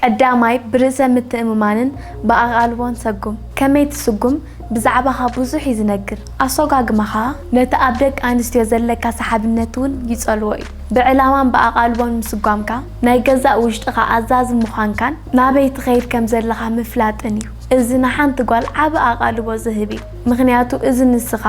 ቀዳማይ፣ ብርእሰ ምትእምማንን ብኣቓልቦን ሰጉም። ከመይ ትስጉም? ብዛዕባኻ ብዙሕ እዩ ዝነግር። ኣሶጋግማኻ ነቲ ኣብ ደቂ ኣንስትዮ ዘለካ ሰሓብነት እውን ይጸልዎ እዩ። ብዕላማን ብኣቓልቦን ምስጓምካ፣ ናይ ገዛእ ውሽጥኻ ኣዛዚ ምዃንካን ናበይ ትኸይድ ከም ዘለኻ ምፍላጥን እዩ። እዚ ንሓንቲ ጓል ዓቢ ኣቓልቦ ዝህብ እዩ፣ ምኽንያቱ እዚ ንስኻ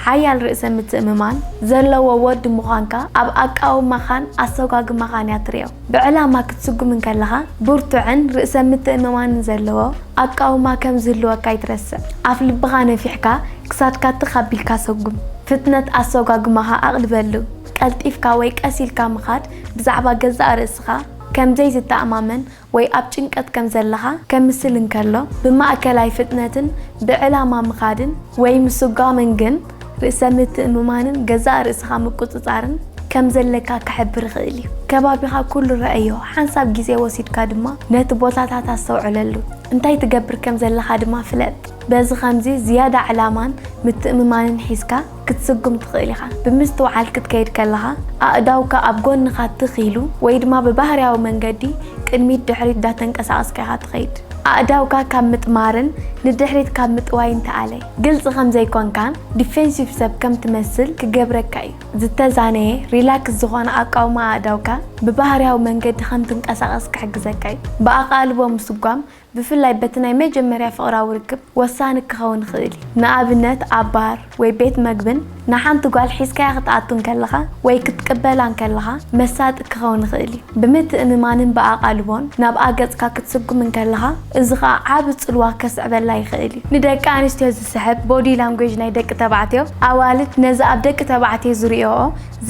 ሓያል ርእሰ ምትእምማን ዘለዎ ወዲ ምዃንካ ኣብ ኣቃውማኻን ኣሰጓግማኻን እያ ትርእዮ። ብዕላማ ክትስጉም እንከለኻ ብርቱዕን ርእሰ ምትእምማንን ዘለዎ ኣቃውማ ከም ዝህልወካ ኣይትረስዕ። ኣፍ ልብኻ ነፊሕካ ክሳድካ ትኽ ኣቢልካ ሰጉም። ፍጥነት ኣሰጓጉማኻ ኣቕልበሉ። ቀልጢፍካ ወይ ቀስ ኢልካ ምኻድ ብዛዕባ ገዛእ ርእስኻ ከም ዘይትተኣማመን ወይ ኣብ ጭንቀት ከም ዘለኻ ከምስል እንከሎ፣ ብማእከላይ ፍጥነትን ብዕላማ ምኻድን ወይ ምስጓምን ግን ርእሰ ምትእምማንን ገዛእ ርእስኻ ምቁጽጻርን ከም ዘለካ ክሕብር ይኽእል እዩ። ከባቢኻ ኩሉ ረኣዮ፣ ሓንሳብ ግዜ ወሲድካ ድማ ነቲ ቦታታት ኣስተውዕለሉ፣ እንታይ ትገብር ከም ዘለኻ ድማ ፍለጥ። በዚ ኸምዚ ዝያዳ ዕላማን ምትእምማንን ሒዝካ፣ ክትስጉም ትኽእል ኢኻ። ብምስትውዓል ክትከይድ ከለኻ፣ ኣእዳውካ ኣብ ጎንኻ ትኽ ኢሉ ወይ ድማ ብባህርያዊ መንገዲ ቅድሚት ድሕሪት ዳተንቀሳቐስካ ኢኻ ትኸይድ። ኣእዳውካ ካብ ምጥማርን ንድሕሪት ካብ ምጥዋይን ተኣለይ። ግልጺ ከም ዘይኮንካን ዲፌንሲቭ ሰብ ከም ትመስል ክገብረካ እዩ። ዝተዛነየ፣ ሪላክስ፣ ዝኾነ ኣቃውማ ኣእዳውካ ብባህርያዊ መንገዲ ከም ትንቀሳቐስ ክሕግዘካ እዩ። ብኣቓልቦ ምስጓም ብፍላይ በቲ ናይ መጀመርያ ፍቕራዊ ርክብ ወሳኒ ክኸውን ይኽእል እዩ። ንኣብነት ኣብ ባር ወይ ቤት መግብን ንሓንቲ ጓል ሒዝካያ ክትኣቱ እንከለኻ ወይ ክትቅበላ እንከለኻ መሳጢ ክኸውን ይኽእል እዩ። ብምትእምማንን ብኣቓልቦን ናብኣ ገጽካ ክትስጉም እንከለኻ እዚ ኸኣ ዓቢ ጽልዋ ከስዕበላ ይኽእል እዩ። ንደቂ ኣንስትዮ ዝስሕብ ቦዲ ላንጉዌጅ ናይ ደቂ ተባዕትዮ ኣዋልድ ነዚ ኣብ ደቂ ተባዕትዮ ዝርእየኦ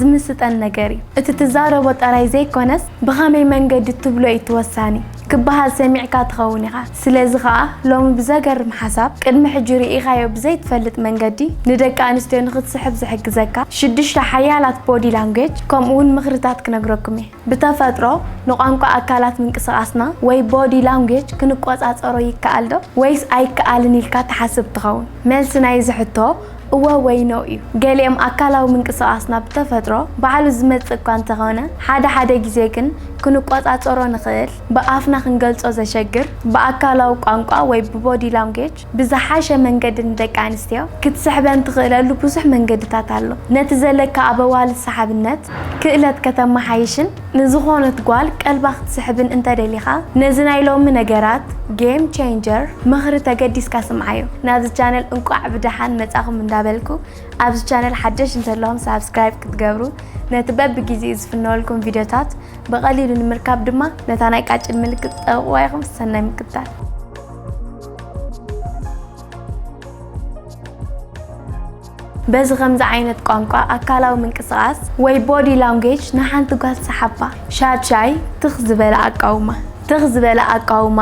ዝምስጠን ነገር እዩ። እቲ ትዛረቦ ጠራይ ዘይኮነስ ብኸመይ መንገዲ ትብሎ እዩ እቲ ወሳኒ። ክበሃል ሰሚዕካ ትኸውን ኢኻ። ስለዚ ከኣ ሎሚ ብዘገርም ሓሳብ ቅድሚ ሕጂ ርኢኻዮ ብዘይትፈልጥ መንገዲ ንደቂ ኣንስትዮ ንኽትስሕብ ዝሕግዘካ ሽዱሽተ ሓያላት ቦዲ ላንጉየጅ ከምኡ'ውን ምኽርታት ክነግረኩም እየ። ብተፈጥሮ ንቋንቋ ኣካላት ምንቅስቓስና ወይ ቦዲ ላንጉየጅ ክንቆጻጸሮ ይከኣል'ዶ ወይስ ኣይከኣልን ኢልካ ትሓስብ ትኸውን? መልሲ ናይ'ዚ ሕቶ፣ እወ ወይ ኖእ እዩ። ገሊኦም ኣካላዊ ምንቅስቓስ ናብ ብተፈጥሮ ባዕሉ ዝመጽእ እኳ እንተዀነ፣ ሓደ ሓደ ግዜ ግን ክንቈጻጸሮ ንኽእል፣ ብኣፍና ክንገልጾ ዘሸግር፣ ብኣካላዊ ቋንቋ ወይ ብቦዲ ላንጉየጅ ብዝሓሸ መንገዲ ንደቂ ኣንስትዮ ክትስሕበን ትኽእለሉ ብዙሕ መንገድታት ኣሎ። ነቲ ዘለካ ኣበዋልድ ሰሓብነት ክእለት ከተመሓይሽን፣ ንዝኾነት ጓል ቀልባ ክትስሕብን እንተ ደሊኻ ነዚ ናይ ሎሚ ነገራት Game Changer ምኽሪ ተገዲስካ ስምዓዮ። ናብዚ ቻነል እንቋዕ ብደሓን መጻኹም እንዳበልኩ ኣብዚ ቻነል ሓደሽ እንተለኹም ሳብስክራይብ ክትገብሩ ነቲ በቢ ጊዜኡ ዝፍነወልኩም ቪድዮታት ብቐሊሉ ንምርካብ ድማ ነታ ናይ ቃጭል ምልክት ጠውቕዋ ኢኹም ሰናይ ምክትታል። በዚ ከምዚ ዓይነት ቋንቋ ኣካላዊ ምንቅስቓስ ወይ ቦዲ ላንጉጅ ንሓንቲ ጓል ሰሓባ። ሻድሻይ፣ ትኽ ዝበለ ኣቃውማ። ትኽ ዝበለ ኣቃውማ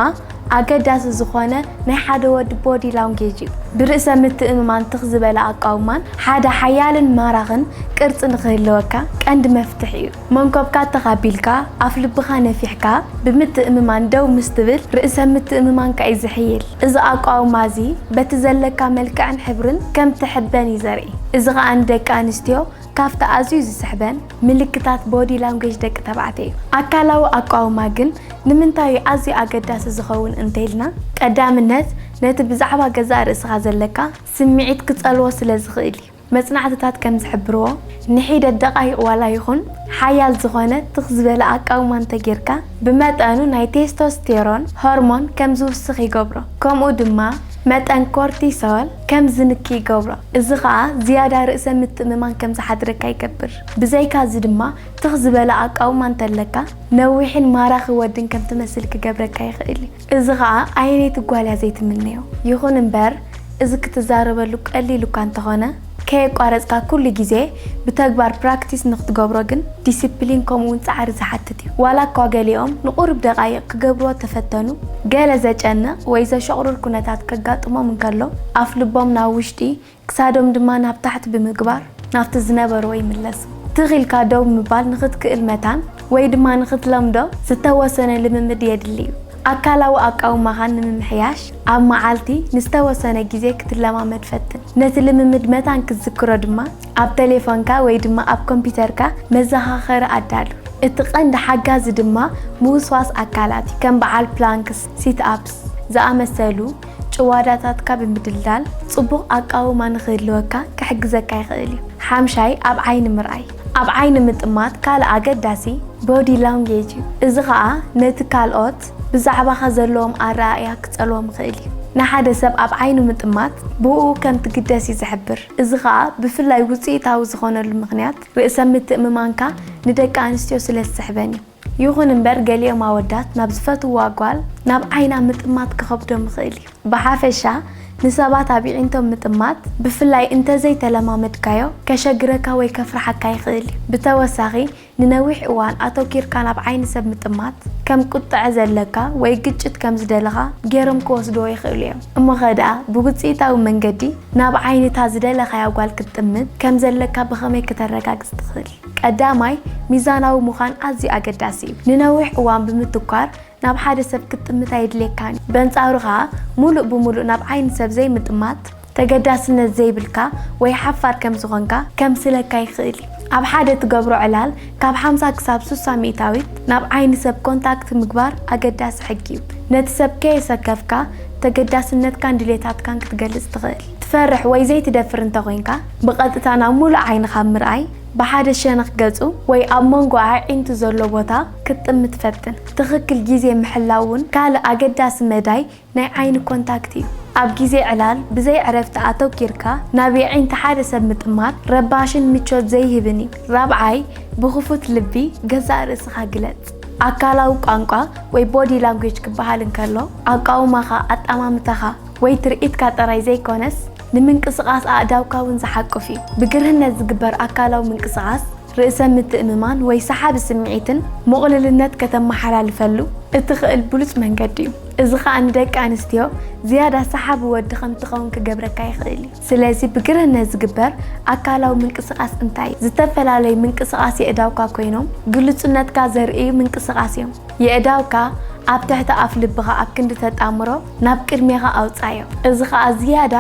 ኣገዳሲ ዝኾነ ናይ ሓደ ወዲ ቦዲ ላንጉጅ እዩ። ብርእሰ ምትእምማን ትኽ ዝበለ ኣቃውማን ሓደ ሓያልን ማራኽን ቅርጺ ንኽህልወካ ቀንዲ መፍትሕ እዩ። መንኮብካ ትኽ ኣቢልካ፣ ኣፍ ልብኻ ነፊሕካ ብምትእምማን ደው ምስ ትብል፣ ርእሰ ምትእምማንካ እዩ ዝሕይል። እዚ ኣቋውማ እዚ በቲ ዘለካ መልክዕን ሕብርን ከም ትሕበን እዩ ዘርኢ። እዚ ኸኣ ንደቂ ኣንስትዮ ካብቲ ኣዝዩ ዝስሕበን ምልክታት ቦዲ ላንጉየጅ ደቂ ተባዕትዮ እዩ። ኣካላዊ ኣቋውማ ግን ንምንታይ እዩ ኣዝዩ ኣገዳሲ ዝኸውን እንተኢልና፣ ቀዳምነት ነቲ ብዛዕባ ገዛእ ርእስኻ ዘለካ ስምዒት ክጸልዎ ስለ ዝኽእል እዩ። መጽናዕትታት ከም ዝሕብርዎ፣ ንሒደት ደቓይቕ ዋላ ይኹን ሓያል ዝዀነ ትኽ ዝበለ ኣቃውማ እንተ ጌርካ፣ ብመጠኑ ናይ ቴስቶስቴሮን ሆርሞን ከም ዝውስኽ ይገብሮ። ከምኡ ድማ መጠን ኮርቲሶል ከም ዝንኪ ይገብሮ፣ እዚ ኸኣ ዝያዳ ርእሰ ምትእምማን ከም ዝሓድረካ ይገብር። ብዘይካዚ ድማ ትኽ ዝበለ ኣቃውማ እንተ ኣለካ፣ ነዊሕን ማራኺ ወድን ከም ትመስል ክገብረካ ይኽእል እዩ። እዚ ኸኣ ኣየነይቲ ጓል እያ ዘይትምነዮ? ይኹን እምበር፣ እዚ ክትዛረበሉ ቀሊል እኳ እንተኾነ፣ ከየቋረጽካ ኩሉ ግዜ ብተግባር ፕራክቲስ ንኽትገብሮ ግን ዲሲፕሊን ከምኡ'ውን ጻዕሪ ዝሓትት እዩ። ዋላ እኳ ገሊኦም ንቑሩብ ደቓይቕ ክገብርዎ እተፈተኑ፣ ገለ ዘጨንቕ ወይ ዘሸቑርር ኩነታት ከጋጥሞም እንከሎ፣ ኣፍልቦም ናብ ውሽጢ ክሳዶም ድማ ናብ ታሕቲ ብምግባር ናብቲ ዝነበርዎ ይምለሱ። ትኽ ኢልካ ደው ምባል ንኽትክእል መታን ወይ ድማ ንኽትለምዶ ዝተወሰነ ልምምድ የድሊ እዩ። ኣካላዊ ኣቃውማኻ ንምምሕያሽ ኣብ መዓልቲ ንዝተወሰነ ግዜ ክትለማመድ ፈትን። ነቲ ልምምድ መታን ክትዝክሮ ድማ ኣብ ተሌፎንካ ወይ ድማ ኣብ ኮምፒተርካ መዘኻኸሪ ኣዳሉ። እቲ ቀንዲ ሓጋዚ ድማ ምውስዋስ ኣካላት እዩ፣ ከም በዓል ፕላንክስ፣ ሲት ኣፕስ፣ ዝኣመሰሉ። ጭዋዳታትካ ብምድልዳል ጽቡቕ ኣቃውማ ንኽህልወካ ክሕግዘካ ይኽእል እዩ። ሓምሻይ ኣብ ዓይኒ ምርኣይ፣ ኣብ ዓይኒ ምጥማት ካልእ ኣገዳሲ ቦዲ ላንጉየጅ እዩ፣ እዚ ኸኣ ነቲ ካልኦት ብዛዕባኻ ዘለዎም ኣረኣእያ ክጸልዎም ይኽእል እዩ። ንሓደ ሰብ ኣብ ዓይኑ ምጥማት ብእኡ ከም ትግደስ እዩ ዝሕብር፣ እዚ ኸኣ ብፍላይ ውጽኢታዊ ዝዀነሉ ምኽንያት ርእሰ ምትእምማንካ ንደቂ ኣንስትዮ ስለ ዝስሕበን እዩ። ይኹን እምበር ገሊኦም ኣወዳት ናብ ዝፈትውዋ ጓል ናብ ዓይና ምጥማት ክኸብዶም ይኽእል እዩ። ብሓፈሻ ንሰባት ኣብ የዒንቶም ምጥማት፣ ብፍላይ እንተዘይተለማመድካዮ፣ ከሸግረካ ወይ ከፍርሓካ ይኽእል እዩ። ብተወሳኺ ንነዊሕ እዋን ኣተኲርካ ናብ ዓይኒ ሰብ ምጥማት፣ ከም ቁጥዐ ዘለካ ወይ ግጭት ከም ዝደለኻ ገይሮም ክወስድዎ ይኽእሉ እዮም። እሞኸ ደኣ ብውጽኢታዊ መንገዲ ናብ ዓይኒ እታ ዝደለኻያ ጓል ክትጥምት ከም ዘለካ ብኸመይ ክተረጋግጽ ትኽእል? ቀዳማይ፣ ሚዛናዊ ምዃን ኣዝዩ ኣገዳሲ እዩ። ንነዊሕ እዋን ብምትኳር ናብ ሓደ ሰብ ክትጥምት ኣየድልየካን እዩ። በንጻሩ ከኣ፣ ምሉእ ብምሉእ ናብ ዓይኒ ሰብ ዘይምጥማት፣ ተገዳስነት ዘይብልካ ወይ ሓፋር ከም ዝዀንካ ከምስለካ ይኽእል እዩ። ኣብ ሓደ ትገብሮ ዕላል፣ ካብ ሓምሳ ክሳብ ስሳ ሚእታዊት ናብ ዓይኒ ሰብ ኮንታክት ምግባር ኣገዳሲ ሕጊ እዩ። ነቲ ሰብ ከየሰከፍካ፣ ተገዳስነትካን ድሌታትካን ክትገልጽ ትኽእል። ትፈርሕ ወይ ዘይትደፍር እንተ ዄንካ፣ ብቐጥታ ናብ ምሉእ ዓይኒ ካብ ምርኣይ፣ ብሓደ ሸነኽ ገጹ ወይ ኣብ መንጎ ኣዒንቱ ዘሎ ቦታ ክትጥምት ፈትን። ትኽክል ግዜ ምሕላው እውን ካልእ ኣገዳሲ መዳይ ናይ ዓይኒ ኮንታክት እዩ። ኣብ ግዜ ዕላል ብዘይ ዕረፍቲ ኣተኲርካ ናብ የዒንቲ ሓደ ሰብ ምጥማት ረባሽን ምቾት ዘይህብን እዩ። ራብዓይ፣ ብኽፉት ልቢ ገዛእ ርእስኻ ግለጽ። ኣካላዊ ቋንቋ ወይ ቦዲ ላንጉጅ ክበሃል እንከሎ፣ ኣቃውማኻ፣ ኣጠማምታኻ ወይ ትርኢትካ ጥራይ ዘይኮነስ፣ ንምንቅስቓስ ኣእዳውካ እውን ዝሓቁፍ እዩ። ብግርህነት ዝግበር ኣካላዊ ምንቅስቓስ ርእሰ ምትእምማን ወይ ሰሓቢ ስምዒትን ምቕሉልነት ከተመሓላልፈሉ እትኽእል ብሉጽ መንገዲ እዩ። እዚ ኸኣ ንደቂ ኣንስትዮ ዝያዳ ሰሓቢ ወዲ ከም እትኸውን ክገብረካ ይኽእል እዩ። ስለዚ ብግርህነት ዝግበር ኣካላዊ ምንቅስቓስ እንታይ እዩ? ዝተፈላለዩ ምንቅስቓስ የእዳውካ ኮይኖም ግሉጽነትካ ዘርእዩ ምንቅስቓስ እዮም። የእዳውካ ኣብ ትሕቲ ኣፍልብኻ ኣብ ክንዲ ተጣምሮ፣ ናብ ቅድሜኻ ኣውጻዮ። እዚ ኸኣ ዝያዳ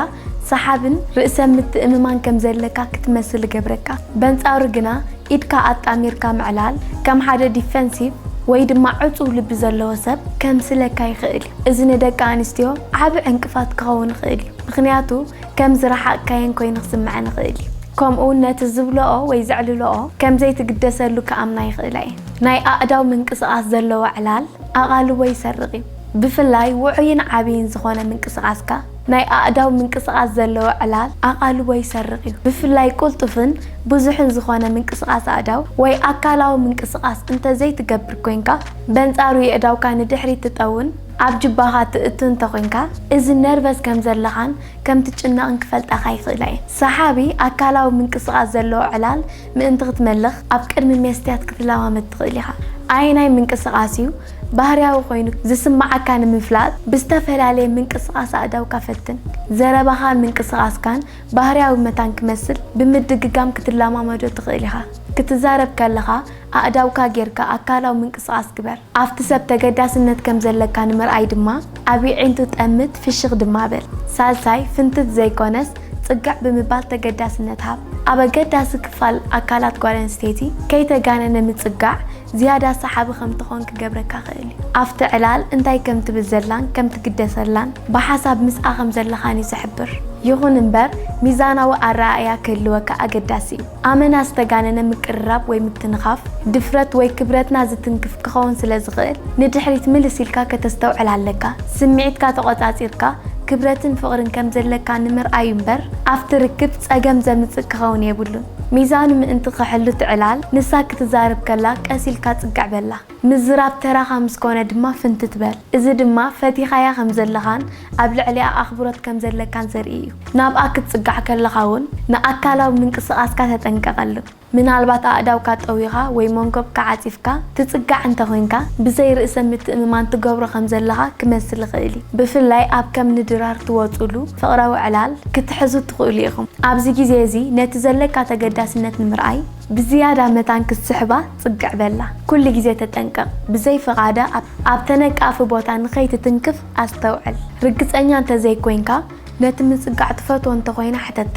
ሰሓብን ርእሰ ምትእምማን ከም ዘለካ ክትመስል እገብረካ። በንጻሩ ግና ኢድካ ኣጣሚርካ ምዕላል ከም ሓደ ዲፈንሲቭ ወይ ድማ ዕጹው ልቢ ዘለዎ ሰብ ከምስለካ ይኽእል እዩ። እዚ ንደቂ ኣንስትዮ ዓቢ ዕንቅፋት ክኸውን ይኽእል እዩ፣ ምኽንያቱ ከም ዝረሓቕካየን ኮይኑ ክስምዐን ይኽእል እዩ። ከምኡውን ነቲ ዝብልኦ ወይ ዘዕልልኦ ከም ዘይትግደሰሉ ክኣምና ይኽእላ እየን። ናይ ኣእዳው ምንቅስቓስ ዘለዎ ዕላል ኣቓልቦ ይሰርቕ እዩ። ብፍላይ ውዑይን ዓብይን ዝኾነ ምንቅስቓስካ ናይ ኣእዳው ምንቅስቓስ ዘለዎ ዕላል ኣቓልቦ ይሰርቕ እዩ። ብፍላይ ቅልጡፍን ብዙሕን ዝኾነ ምንቅስቓስ ኣእዳው ወይ ኣካላዊ ምንቅስቓስ እንተዘይትገብር ኮይንካ፣ በንጻሩ የእዳውካ ንድሕሪት ትጠውን ኣብ ጁባኻ ትእቱ እንተኾይንካ፣ እዚ ነርቨስ ከምዘለኻን ከምትጭነቕን ክፈልጣኻ ይኽእላ እየን። ሰሓቢ ኣካላዊ ምንቅስቓስ ዘለዎ ዕላል ምእንቲ ክትመልኽ ኣብ ቅድሚ መስትያት ክትለማመድ ትኽእል ኢኻ። ኣየናይ ምንቅስቓስ እዩ ባህርያዊ ኮይኑ ዝስምዓካ ንምፍላጥ ብዝተፈላለየ ምንቅስቓስ ኣእዳውካ ፈትን። ዘረባኻን ምንቅስቓስካን ባህርያዊ መታን ክመስል ብምድግጋም ክትለማመዶ ትኽእል ኢኻ። ክትዛረብ ከለኻ ኣእዳውካ ጌርካ ኣካላዊ ምንቅስቓስ ግበር። ኣብቲ ሰብ ተገዳስነት ከም ዘለካ ንምርኣይ ድማ ኣብ የዒንቱ ጠምት፣ ፍሽኽ ድማ በል። ሳልሳይ፣ ፍንትት ዘይኮነስ ጽግዕ ብምባል ተገዳስነት ሃብ። ኣብ ኣገዳሲ ክፋል ኣካላት ጓል ኣንስተይቲ ከይተጋነነ ምጽጋዕ፣ ዝያዳ ሰሓቢ ከም ትኾን ክገብረካ ክእል እዩ። ኣብቲ ዕላል እንታይ ከም ትብል ዘላን ከም ትግደሰላን ብሓሳብ ምስኣ ከም ዘለኻን እዩ ዝሕብር። ይኹን እምበር ሚዛናዊ ኣረኣእያ ክህልወካ ኣገዳሲ እዩ። ኣመና ዝተጋነነ ምቅርራብ ወይ ምትንኻፍ ድፍረት ወይ ክብረትና ዝትንክፍ ክኸውን ስለ ዝኽእል ንድሕሪት ምልስ ኢልካ ከተስተውዕል ኣለካ። ስምዒትካ ተቖጻጺርካ ክብረትን ፍቕርን ከም ዘለካ ንምርኣይ እዩ እምበር ኣብቲ ርክብ ጸገም ዘምጽእ ክኸውን የብሉን። ሚዛኑ ምእንቲ ኺሕሉ ትዕላል፣ ንሳ ክትዛረብ ከላ ቀስ ኢልካ ጽግዕ በላ። ምዝራብ ተራኻ ምስ ኰነ ድማ ፍንትት በል። እዚ ድማ ፈቲኻያ ኸም ዘለኻን ኣብ ልዕሊኣ ኣኽብሮት ከም ዘለካን ዘርኢ እዩ። ናብኣ ክትጽጋዕ ከለኻ እውን ንኣካላዊ ምንቅስቓስካ ተጠንቀቐሉ። ምናልባት ኣእዳውካ ጠዊኻ ወይ መንኰብካ ዓጺፍካ ትጽጋዕ እንተ ዄንካ፣ ብዘይ ርእሰ ምትእምማን ትገብሮ ኸም ዘለኻ ኪመስል ይኽእል እዩ። ብፍላይ ኣብ ከም ንድራር ትወጹሉ ፍቕራዊ ዕላል ክትሕዙ ትኽእሉ ኢኹም። ኣብዚ ግዜ እዚ ነቲ ዘለካ ተገዳስነት ንምርኣይ ብዝያዳ መታን ክትስሕባ ጽግዕ በላ። ኩሉ ግዜ ተጠንቀቕ፣ ብዘይ ፍቓዳ ኣብ ተነቃፊ ቦታ ንኸይትትንክፍ ኣስተውዕል። ርግጸኛ እንተ ዘይኮይንካ ነቲ ምጽጋዕ ትፈትዎ እንተ ኾይና ሕተታ።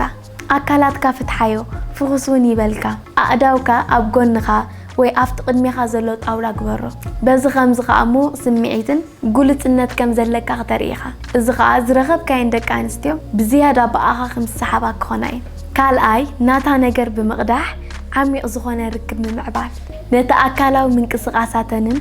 ኣካላትካ ፍትሓዮ፣ ፍኹስ እውን ይበልካ። ኣእዳውካ ኣብ ጎንኻ ወይ ኣብቲ ቅድሜኻ ዘሎ ጣውላ ግበሮ። በዚ ኸምዚ ኸኣ ምዉቕ ስምዒትን ግሉጽነት ከም ዘለካ ክተርኢ ኢኻ፣ እዚ ኸኣ ዝረኸብካየን ደቂ ኣንስትዮ ብዝያዳ ብኣኻ ከም ዝሰሓባ ክኾና እየን። ካልኣይ፣ ናታ ነገር ብምቕዳሕ ዓሚቕ ዝኾነ ርክብ ምምዕባል። ነቲ ኣካላዊ ምንቅስቓሳተንን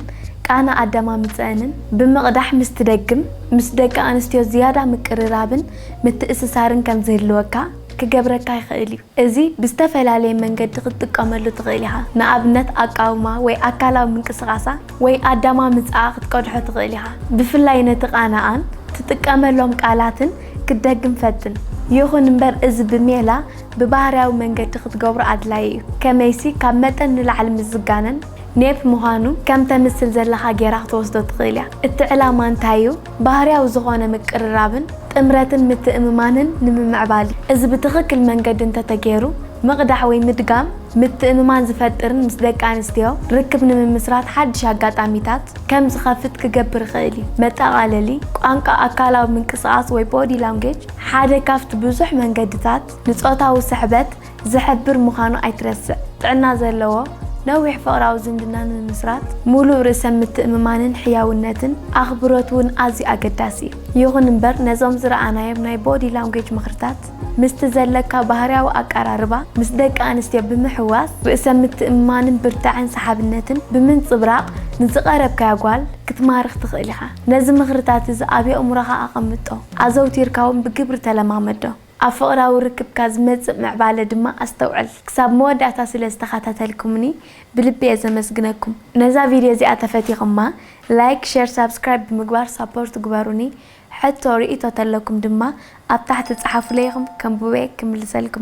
ቃና ኣደማምጽኣንን ብምቕዳሕ ምስ ትደግም፣ ምስ ደቂ ኣንስትዮ ዝያዳ ምቅርራብን ምትእስሳርን ከም ዝህልወካ ክገብረካ ይኽእል እዩ። እዚ ብዝተፈላለየ መንገዲ ክትጥቀመሉ ትኽእል ኢኻ። ንኣብነት ኣቃውማ ወይ ኣካላዊ ምንቅስቓሳ ወይ ኣዳማምጽኣ ክትቀድሖ ትኽእል ኢኻ። ብፍላይ ነቲ ቃናኣን ትጥቀመሎም ቃላትን ክትደግም ፈትን። ይኹን እምበር እዚ ብሜላ ብባህርያዊ መንገዲ ክትገብሮ ኣድላዪ እዩ። ከመይሲ ካብ መጠን ንላዕሊ ምስ ዝጋነን፣ ኔፕ ምዃኑ ከም ተምስል ዘለኻ ገይራ ክትወስዶ ትኽእል እያ። እቲ ዕላማ እንታይ እዩ? ባህርያዊ ዝኾነ ምቅርራብን ጥምረትን ምትእምማንን ንምምዕባል እዩ። እዚ ብትኽክል መንገዲ እንተተገይሩ ምቕዳሕ ወይ ምድጋም ምትእምማን ዝፈጥርን ምስ ደቂ ኣንስትዮ ርክብ ንምምስራት ሓድሽ ኣጋጣሚታት ከም ዝኸፍት ክገብር ይኽእል እዩ። መጠቓለሊ፣ ቋንቋ ኣካላዊ ምንቅስቓስ ወይ ቦዲ ላንጉጅ ሓደ ካብቲ ብዙሕ መንገድታት ንጾታዊ ስሕበት ዝሕብር ምዃኑ ኣይትረስዕ። ጥዕና ዘለዎ ነዊሕ ፍቕራዊ ዝምድና ንምምስራት ምሉእ ርእሰ ምትእምማንን ሕያውነትን ኣኽብሮት እውን ኣዝዩ ኣገዳሲ እዩ። ይኹን እምበር ነዞም ዝረኣናዮም ናይ ቦዲ ላንጉዌጅ ምኽርታት ምስቲ ዘለካ ባህርያዊ ኣቀራርባ ምስ ደቂ ኣንስትዮ ብምሕዋስ ርእሰ ምትእምማንን ብርታዐን ሰሓብነትን ብምንጽብራቕ ንዝቐረብካያ ጓል ክትማርኽ ትኽእል ኢኻ። ነዚ ምኽርታት እዚ ኣብ የእምሮኻ ኣቐምጦ፣ ኣዘውቲርካ እውን ብግብሪ ተለማመዶ። ኣብ ፍቕራዊ ርክብካ ዝመጽእ ምዕባለ ድማ ኣስተውዕል። ክሳብ መወዳእታ ስለ ዝተኸታተልኩምኒ ብልቢ'የ ዘመስግነኩም። ነዛ ቪድዮ እዚኣ ተፈቲኹማ ላይክ ሸር ሳብስክራይብ ብምግባር ሳፖርት ግበሩኒ። ሕቶ ርኢቶ ተለኩም ድማ ኣብ ታሕቲ ጸሓፉለይ ኢኹም ከንብቦ'የ ክምልሰልኩም'የ።